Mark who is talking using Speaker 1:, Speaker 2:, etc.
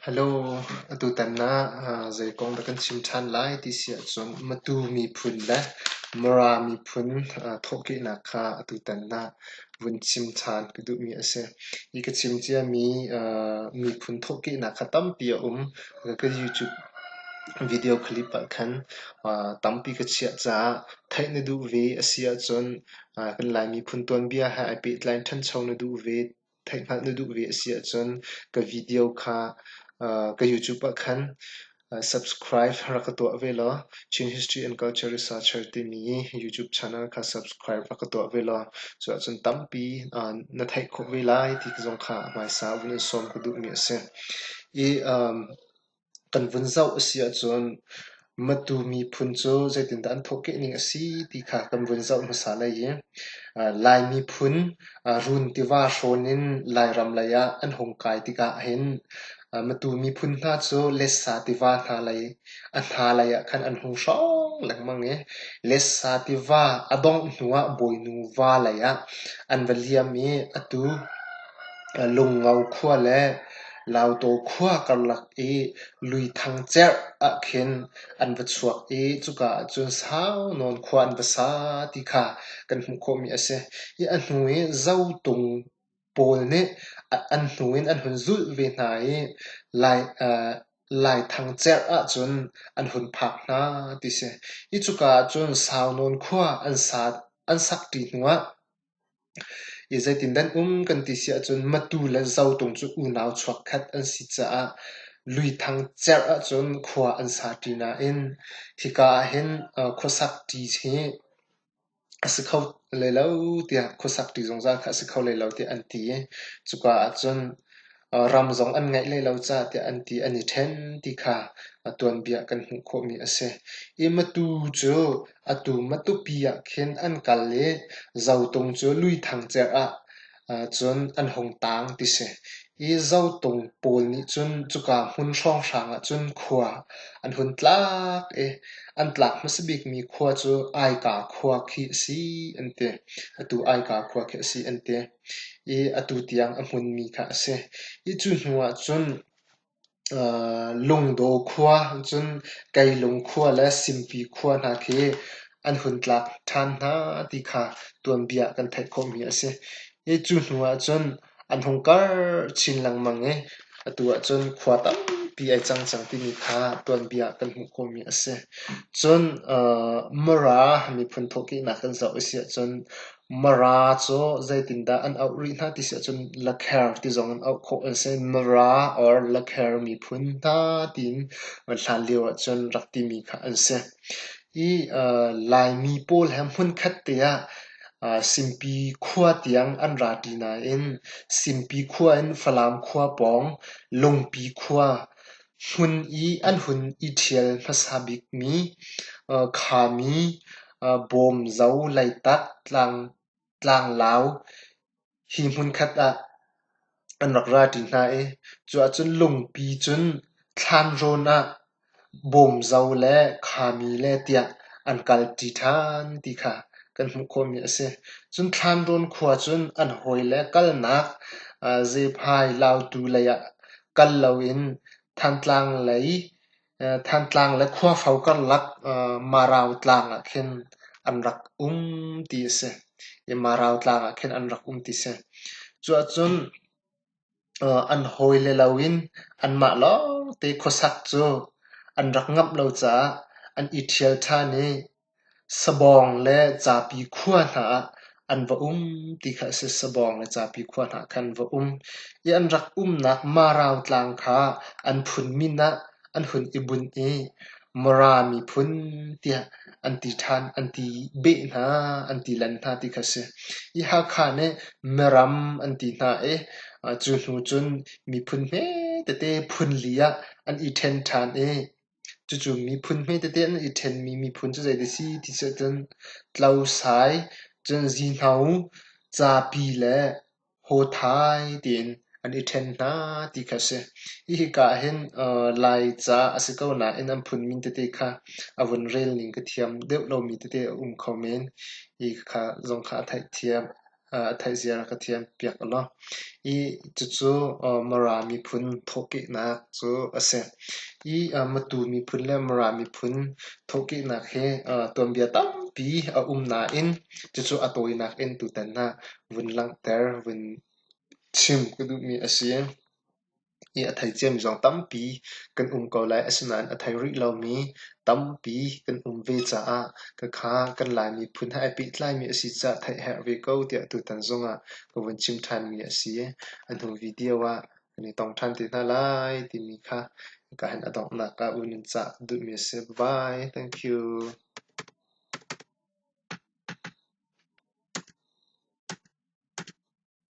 Speaker 1: Hello, atutan ah zeikong dah kan chim ṭhan lai ti si ahcun Matu miphun le Mara miphun thawhkehnak kha atutan ah vun chim ṭhan ka duhmi a si. Hi ka chim ciami miphun thawhkehnak kha tampi a um. Ka YouTube video clip ah khan tampi ka chiah caah theih na duh ve a si ahcun kan Lai miphun tuanbia he ai pehtlai in ṭhancho na duh ve, theihhngalh na duh ve a si ahcun ka video kha ka YouTube ah khan subscribe rak ka tuah ve law Chin History and Culture Researcher timi YouTube channel kha subscribe rak ka tuah ve law cuahcun tampi na theih khawh ve lai ti zong kha hmaisa vun in sawm ka duhmi a si. I Kan vun zoh a si ahcun Matu miphun cu zeitindah an thawhkeh ning a si ti kha kan vun zoh hmasa lai i Lai miphun run tiva hrawn in Lairam lei ah an hung kai tikah hin Matu miphun hna cu Lessa tiva hna lei a hna lei ah khan an hung hrawng lengmang i Lessa tiva a dongh hnu ah Bawinu va lei ah an va liam i atu Ka Lungo khua le Laudaw khua karlak i luithang cerh ah khin an va chuak i cuka ah cun saunawn khua an va sa ti kha kan hmuh khawhmi a si. Hi a hnu i Zotung pawl nih an hnu in an hun zulh ve hna i Laithang cerh ahcun an hun phak hna ti si. Hi cuka ah cun saunawn khua an sakṭi hnuah I zeitin nan um kan ti si ahcun Matu le Zotung cu unau chuakkhat an si caah luithang cerh ahcun khua an sa ṭi nain khika ahhin khuasak ṭi hi a si kho lei lo tiah khuasak ṭi zungzal kha a si kho lei lo tiah an ti i cuka ahcun ram zong an ngeih hlei lo caah tiah an ti an i ṭhen ti kha a tuanbia kan hmuh khawhmi a si. I matu cu atu Matupi ah khin an kal i Zotung cu luithang cer ah cun an hung taang ti si. Hi Zotung pawl nih cun cuka hmun hrawnghrang ah cun khua an hun tlak i an tlak hmasa bikmi khua cu Aika khua khi a si an ti. Atu Aika khua khi a si an ti. i atu tiang a hmunmi kha a si. I cu hnu ah cun Lungdaw khua cun Keilung khua le Simpi khua hna khi an hun tlak ṭhan hna ti kha tuanbia kan theih khawhmi a si. I cu hnu ah cun an hung karh chin lengmang i atu ah cun khua tampi ai cang cang timi kha tuanbia kan hmuh khawhmi a si. Cun Mara miphun thawhkehnak kan zoh a si ahcun Mara cu zeitindah an auh rih hna ti si ahcun Lakher ti zong in auh khawh an si. Mara or Lakher miphun hna tiin an hlan lio ahcun rak timi kha an si. Hi Laimi pawl he hmunkhat te ah Simpi khua tiang an ra ṭi nain Simpi khua in Falam khua pawng, Lungpi khua, Hmun i an hun i ṭhial hmasa bikmi khami bawm zo, Leitak, tlanglau hi hmunkhat ah an rak ra ṭi hna i cu ahcun lungpi cun thlan rawn ah bawm zo le khami le tiah an kal ṭi ṭhan ti kha kan hmuh khawhmi a si. Cun thlan rawn khua cun an hawi le kalnak Zephai lautu lei ah kal loin Thantlang lei Thantlang le Khuafo karlak Marau tlang ah khin an rak um ti a si i Marau tlang ah khin an rak um ti a si. Cuahcun an hawi le loin anmah lawngte khuasak cu an rak ngamh lo caah an i ṭhial ṭhan i Sabawng le Capi khua hna ah an va um ti kha a si. Sabawng le Capi khua hna khan va um i an rak umnak Marau tlang kha an phun min ah an hun i bunh i Mara miphun tiah an ti ṭhan, an ti beh hna, an ti lan hna ti kha a si. Hi Hakha nih Miram an ti hna i cu hnu cun miphun hme tete phun li ah an i ṭhen ṭhan i Cucu miphun hme tete an i ṭhenmi miphun cu zeidah a si ti cu cun Tlosai, cun Zihno, Zapi le Hawthai tiin an i ṭhen hna ti kha a si. Hi hika ah hin Laica a si ko nain an phunmin tete kha a vun rel ning ka thiam deuh lomi tete a um kho men. Hi kha zong kha a theihthiam. a theihzia rak ka thiam piak ulaw. I cucu Mara miphun thawhkehnak cu a si. I Matu miphun le Mara miphun thawhkehnak hi tuanbia tampi a um nain cucu a tawinak in tutan ah vun langhter, vun chim ka duhmi a si. i a thei ciami zong tampi kan um ko lai. Asinain a thei rih lomi tampi kan um ve caah khakha kan Lai miphun he ai pehtlaimi a si caah theih a herh ve ko tiah tutan zongah ka vun chim ṭhanmi a si. A hnu video ah kan i tong ṭhan te hna lai timi kha ka han a donghnak ah vun in cah ka duhmi a si. Bye! Thank you.